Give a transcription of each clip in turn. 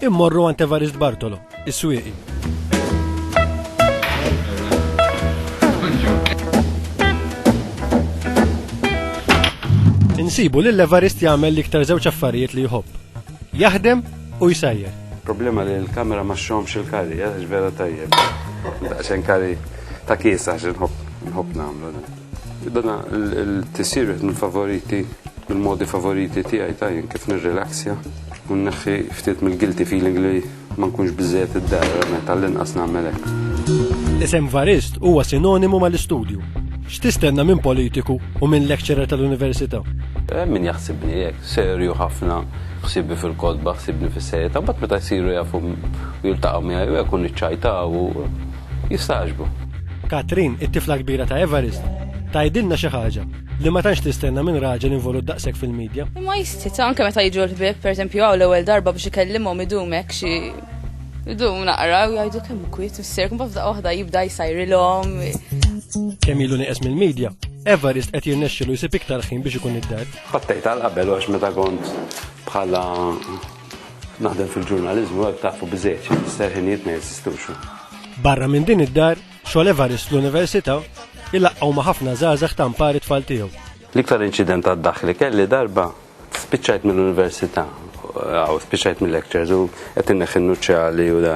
Immorru għand Evarist Bartolo, is-swieqi. Insibu li l-Evarist jagħmel l-iktar żewġ affarijiet li jħobb. Jaħdem u jsajjer. Problema li l-kamera ma xomx il-kari, eh, vera tajjeb. Daqxen kari ta' kiesa xinħob nħob namlu. Dana l-tisir wieħed mill-favoriti, mill-modi favoriti tiegħi ta' jien kif nirrilaxja u nneħħi ftit mill-guilty feeling li ma nkunx biżżejjed id-dar, għalhekk għall-inqas nagħmel hekk. L-isem Varist huwa sinonimu mal-istudju. X'tistenna minn politiku u minn lecturer tal-università? Hemm min jaħsibni hekk, serju ħafna, ħsiebi fil-kotba, ħsiebni fis-serjetà, mbagħad meta jsiru jafu u jiltaqgħu miegħi u hekk u niċċajtaw u. jistagħġbu. Katrin, it-tifla kbira ta' Evarist, tgħidilna xi ħaġa li ma tantx tistenna minn raġel involut daqshekk fil-midja. Imma jistita' anke meta jiġu l-ħbieb, pereżempju hawn l-ewwel darba biex ikellimhom idum hekk xi idum naqra u jgħidu kemm kwiet missier, kumba f'daqqa waħda jibda jsajrilhom. Kemm ilu nieqes mill-midja, Evarist qed jirnexxilu jsib iktar ħin biex ikun id-dar. Ħattejt għal qabel għax meta kont bħala Naħdem fil-ġurnaliżmu hekk tafu biżejjed xi jfisser ħinijiet ma jeżistux. Barra minn din id-dar, xogħol Evarist l-Università ilaqgħu ma' ħafna żgħażagħ ta' mpar it-tfal tiegħu. L-iktar inċident għad-daħħ li kelli darba spiċċajt mill-università, għaw spiċċajt mill-lectures u qed inneħħi n-nuċċali u da.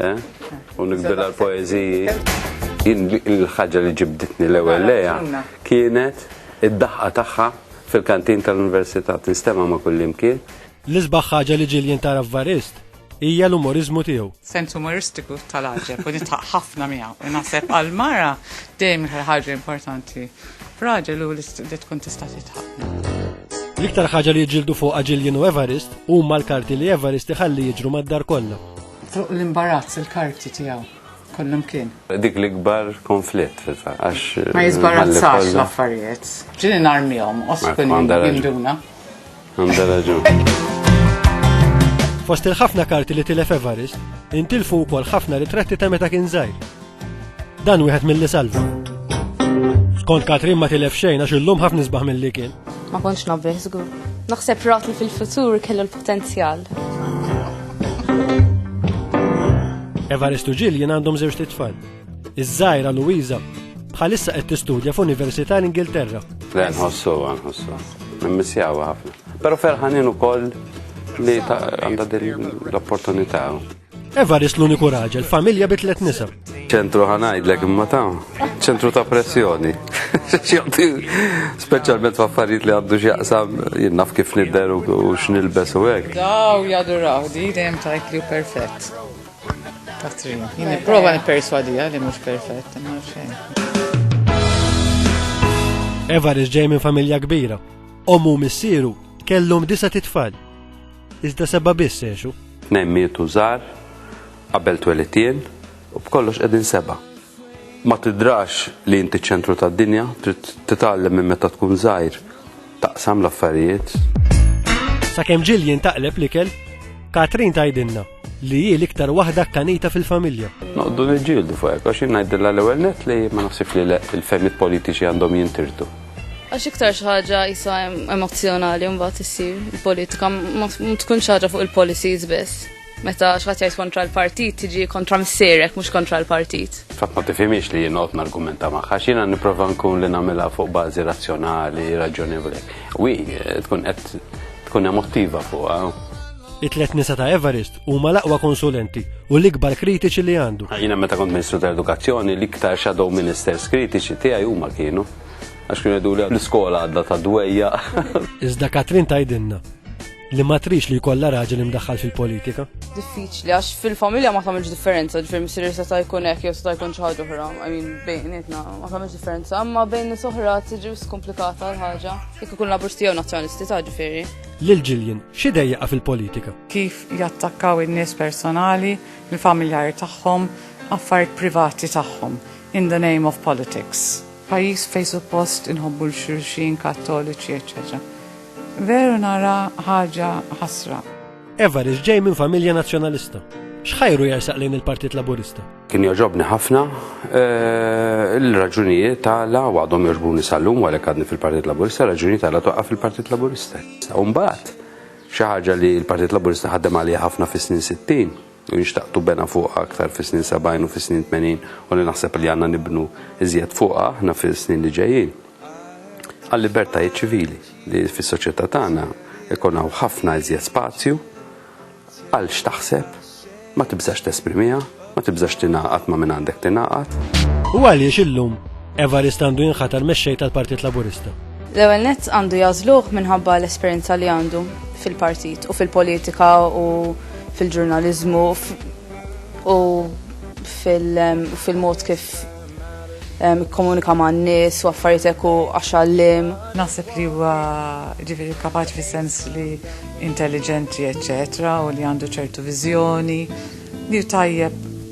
Eh? U nikbir għal poeziji. Il-ħagġa li ġibditni l-ewel leja kienet id-daħqa tagħha fil-kantin tal-Università tinstema ma' kullimkien. L-isbaħ ħaġa li ġiljen tara f'Varist hija l-umorizmu tiegħu. Sens umoristiku tal-ħaġeb u nitħaq ħafna miegħu. U naħseb għal-mara dejjem ħaġa importanti. Raġel u li tkun tista' titħaq. L-iktar ħaġa li jġildu fuq ġiljen u Everest huma l-karti li Everest iħalli jiġru mad-dar kollha. Fuq l-imbarazz il-karti tiegħu kollum kien. Dik l-ikbar konflitt, għax. Ma jizbarazzax l-affarijiet. Ġini narmijom, oskun jinduna. Għanda raġun. Fost il-ħafna karti li tilef Evarist, intilfu wkoll ħafna ritratti ta' meta kien żgħir. Dan wieħed mill-li salva. Skont Katrin ma tilef xejn għax illum ħafna nisbaħ mill-li kien. Ma kontx nabbeħ żgur. Naħseb rat li fil-futur kellu l-potenzjal. Evaristu ġil jien għandhom żewġ titfal. Iż-żajra Luisa bħalissa qed tistudja f'Università l-Ingilterra. Le nħossu, nħossu. Nimmissjawa ħafna. Però ferħanin ukoll li għandha din l-opportunità. Evarist l-uniku raġel, familja bi tliet nisa. ċentru ħanajdlek imma ta' ċentru ta' pressjoni. X'jaqti speċjalment f'affarijiet li għandu x'jaqsam jien naf kif nidher u u x'nilbes u hekk. Daw jaduraw, di dejjem tajt li hu perfett. Katrin, jien nipprova nipperswadija li mhux perfett, imma xejn. Evarist ġej minn familja kbira. Ommu u missieru kellhom disa' titfal. Iżda seba' biss għexu. Tnejn mietu żgħar qabel twelid jien u b'kollox qegħdin seba'. Ma tidrax li inti ċ-ċentru tad-dinja, trid titgħallem minn meta tkun żgħir taqsam l-affarijiet. Sakemm ġil jintaqleb l-ikel, Katrin tgħidilna li hi l-iktar waħda kkanita fil-familja. Noqdu niġġieldu fuq hekk għax jien ngħidilha l-ewwel nett li ma naħsibx li l-fehmiet politiċi għandhom jintirdu. Għax iktar xi ħaġa jisa emozzjonali mbagħad issir politika ma tkun xi ħaġa fuq il-policies biss. Meta xħat jgħid kontra l-partit tiġi kontra msirek mhux kontra l-partit. Fatt ma tifhimiex li jien argumenta magħha x'jiena nipprova nkun li nagħmilha fuq bażi razzjonali, raġjonevoli. Wi, eh, tkun qed tkun emotiva fuqha. It-tlet nisa ta' Everest huma l-aqwa konsulenti u l-ikbar kritiċi li għandu. Jiena meta kont Ministru tal-Edukazzjoni l-iktar shadow ministers kritiċi tiegħi huma kienu. Għax kienu jgħiduli l-iskola għadda ta' dwejja. Iżda Katrin tajdinna li ma trix li jkollha raġel imdaħħal fil-politika. Diffiċli għax fil-familja ma tagħmilx differenza, ġifier missier se ta' jkun hekk jew se ta' jkun xi ħaġa oħra, I mean bejnietna ma tagħmilx differenza, imma bejn nies oħra tiġi skomplikata l-ħaġa. Jekk ikun labursti jew nazzjonalisti ta' ġifieri. Lil Ġiljen, xi dejjaqa fil-politika? Kif jattakkaw in-nies personali, il-familjari tagħhom, affarijiet privati tagħhom. In the name of politics. Pajjiż fejn suppost inħobbu 'l xulxin, kattoliċi eċċetera. Veru nara ħaġa ħasra. Evarist ġej minn familja Nazzjonalista. X'ħajru jersaq lejn il-Partit Laburista? Kien jogħġobni ħafna eh, l-raġunijiet tagħla u għadhom jogħġbuni sal-lum għalhekk għadni fil-Partit Laburista, raġunijiet tagħla toqqa fil-Partit Laburista. Umbagħad xi ħaġa li l-Partit Laburista ħaddem għalija ħafna fis-snin 60 li xtaqtu bena fuqha aktar fis-snin 70 u fis-snin 80 u li naħseb li għandna nibnu iżjed fuqha aħna fis-snin li ġejjin, għal-libertajiet ċivili, li fis-soċjetà tagħna jkun hawn ħafna iżjed spazju għal x'taħseb, ma tibżax tesprimiha, ma tibżax tingħaqad ma' min għandek tingħaqad. U għaliex illum Evarist għandu jinħatar mexxej tal-Partit Laburista? L-ewwel nett għandu jagħżluh minħabba l-esperjenza li għandu fil-partit u fil-politika u fil-ġurnaliżmu u fil-mod kif komunika ma' n-nis u affarijiet eku għaxallim. Naħseb li huwa ġifiri kapaċi fis sens li intelligenti, eccetera, u li għandu ċertu viżjoni, li tajjeb